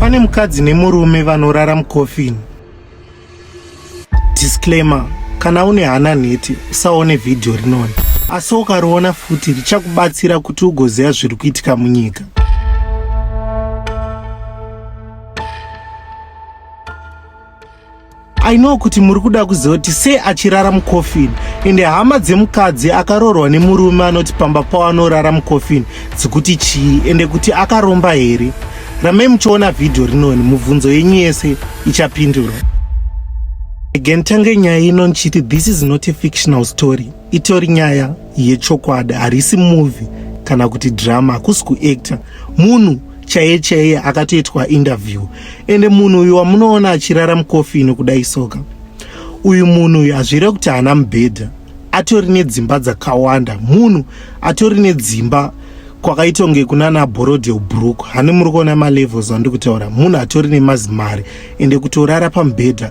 Pane mukadzi nemurume vanorara mucoffin. Disclaimer, kana une hana nhete usaone vhidhiyo rinoni, asi ukariona futi richakubatsira kuti ugoziva zviri kuitika munyika. I know kuti muri kuda kuziva kuti sei achirara mucoffin ende hama dzemukadzi akaroorwa nemurume anoti pamba pavo anorara mucoffin dzikuti chii ende kuti akaromba here ramai muchiona vhidhiyo rinoni mubvunzo yenyu yese ichapindurwa again tange nyaya ino ndichiti this is not a fictional story itori nyaya yechokwadi harisi movie kana kuti drama hakusi kuactor munhu chaiye chaiye akatoitwa interview ende munhu uyu wamunoona achirara mukofini kudai soka uyu munhu uyu hazvire kuti haana mubhedha atori nedzimba dzakawanda munhu atori nedzimba kwakaitonge kunana borodel brook hani muri kuona malevels andiri kutaura munhu atori nemazimari ende kutorara pamubhedha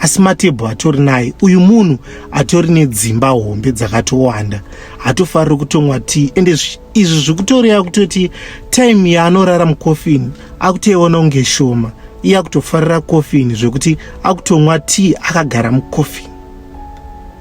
asi matebho atori naye uyu munhu atori nedzimba hombe dzakatowanda hatofariri kutomwa tea ende izvi zvikutoreva kutoti time yaanorara mucoffin akutoiona kunge shoma iye akutofarira coffin zvekuti akutomwa tea akagara mucoffin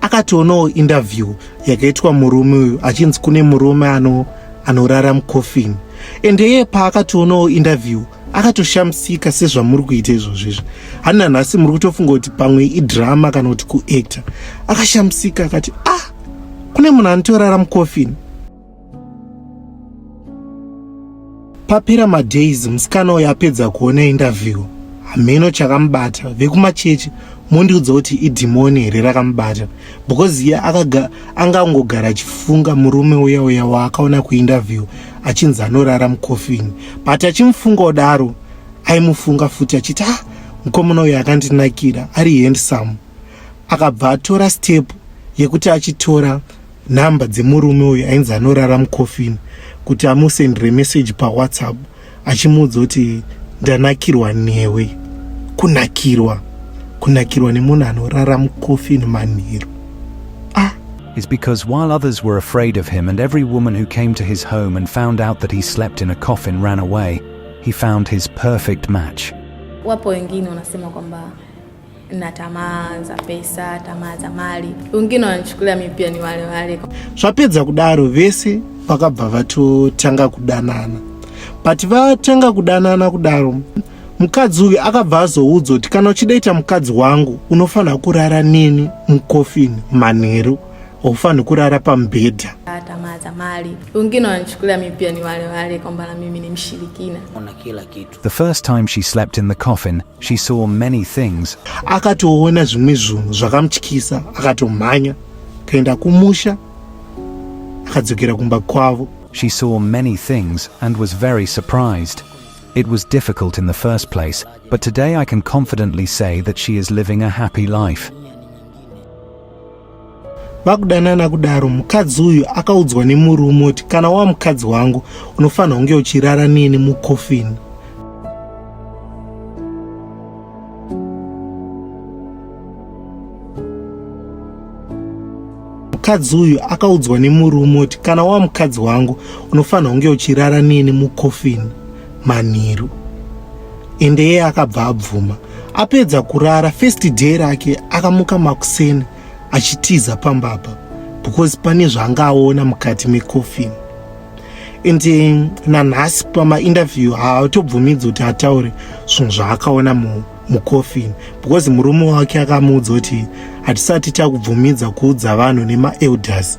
akationawo interview yakaitwa murume uyu achinzi kune murume ano anorara mucoffin and iye paakationawo interview akatoshamisika sezvamuri kuita izvozvo izvi hani nanhasi muri kutofunga kuti pamwe idrama kana kuti kuactor akashamisika akati ah kune munhu anotorara mucoffin Papera madays musikana uyo apedza kuona interview hameno chakamubata vekumachechi mondiudza kuti idhimoni here rakamubata because iye anga angogara achifunga murume uya uya waakaona kuinterview achinzi anorara mukofini but achimufunga odaro aimufunga futi achiti ah mukomana uyo akandinakira ari handsome akabva atora step yekuti achitora number dzemurume uyu ainzi anorara mucoffin kuti amusendere message pawhatsapp achimuudza kuti ndanakirwa newe kunakirwa kunakirwa nemunhu anorara mucoffin manheru ah. is because while others were afraid of him and every woman who came to his home and found out that he slept in a coffin ran away, he found his perfect match. Wapo wengine wanasema kwamba na tamaa za pesa, tamaa za mali, wengine wanachukulia mi pia ni wale wale. Zvapedza kudaro vese vakabva vatotanga kudanana, but vatanga kudanana kudaro mukadzi uyu akabva azoudzwa kuti kana uchida ita mukadzi wangu unofanira kurara neni mukofini manheru haufanhi kurara pamubhedha tamaa za mali, wengine wanachukulia mi pia ni wale wale kwamba na mimi ni mshirikina. The first time she slept in the coffin, she saw many things. Akatoona zvimwe zvinhu zvakamutyisa, akatomhanya kaenda kumusha, akadzokera kumba kwavo. She saw many things and was very surprised. It was difficult in the first place, but today I can confidently say that she is living a happy life. vakudanana kudaro mukadzi uyu akaudzwa nemurume kuti kana wa mukadzi wangu unofanira kunge uchirara neni mukofini mukadzi uyu akaudzwa nemurume kuti kana wa mukadzi wangu unofanira kunge uchirara neni mukofini manheru ende yeye akabva abvuma apedza kurara first day rake akamuka makuseni achitiza pamba apa because pane zvaanga aona mukati mecoffin and eh, nanhasi pamainterview haatobvumidzi kuti ataure zvinhu zvaakaona mucoffin because murume wake akamuudza kuti hatisati takubvumidza kuudza vanhu nemaelders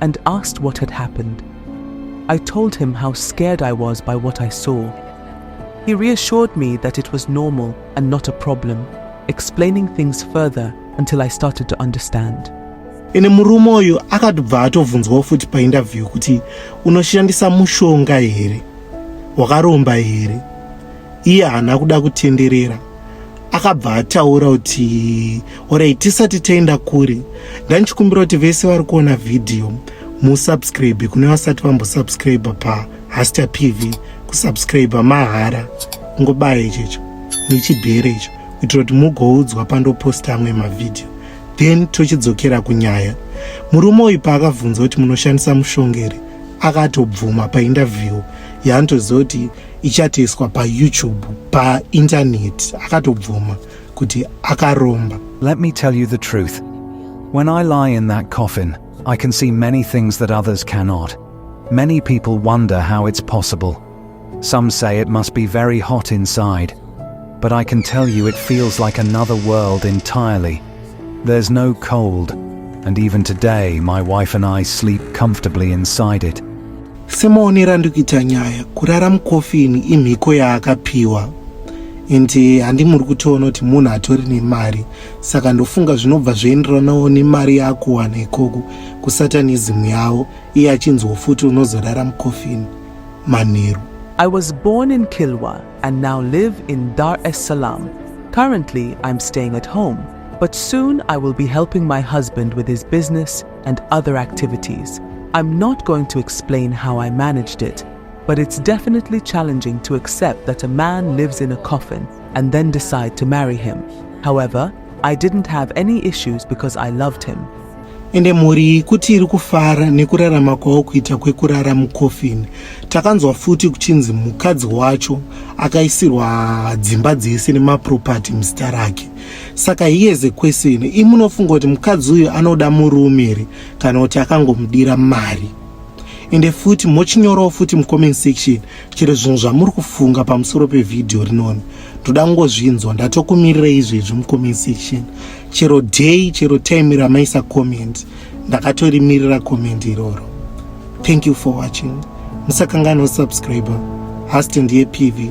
and asked what had happened. I told him how scared I was by what I saw. He reassured me that it was normal and not a problem, explaining things further until I started to understand. ene murume uyu akatobva atovhunzwawo futi painterview kuti unoshandisa mushonga here wakaromba here iye haana kuda kutenderera akabva ataura kuti orai tisati taenda kure ndandichikumbira kuti vese vari kuona vhidhiyo musubscribe kune vasati vambosubscribe pahasta pv kusubscribe mahara ngobaya ichecho nechibhere icho kuitira kuti mugoudzwa pandoposta amwe mavhidhiyo then tochidzokera kunyaya murume uyu paakabvunza kuti munoshandisa mushongeri akatobvuma paindavhiwo yaanotoziva kuti ichatoiswa payoutube paintaneti akatobvuma kuti akaromba let me tell you the truth when i lie in that coffin i can see many things that others cannot many people wonder how it's possible some say it must be very hot inside but i can tell you it feels like another world entirely there's no cold and even today my wife and i sleep comfortably inside it Semaonero andikuita nyaya kurara mukofini imhiko yaakapiwa and eh, handimuri kutoona kuti munhu atori nemari saka ndofunga zvinobva zvoenderanawo nemari yaakuwana ikoko kusatanism yavo iye achinzwa futi unozorara mukofini manheru I was born in Kilwa and now live in Dar es Salaam. Currently, I'm staying at home, but soon I will be helping my husband with his business and other activities. I'm not going to explain how I managed it, but it's definitely challenging to accept that a man lives in a coffin and then decide to marry him. However, I didn't have any issues because I loved him. ende mhuri kuti iri kufara nekurarama kwavo kuita kwekurara mukofini takanzwa futi kuchinzi mukadzi wacho akaisirwa dzimba dzese nemapropati muzita rake saka he is a question imunofunga kuti mukadzi uyu anoda murume here kana kuti akangomudira mari ende futi mochinyorawo futi mucomment section chero zvinhu zvamuri kufunga pamusoro pevhidhiyo rinoni ndoda kungozvinzwa ndatokumirira izvezvi mucomment section chero day chero time ramaisa comment ndakatorimirira comment iroro thank you for watching musakanganwa subscriber hasti ndiye pv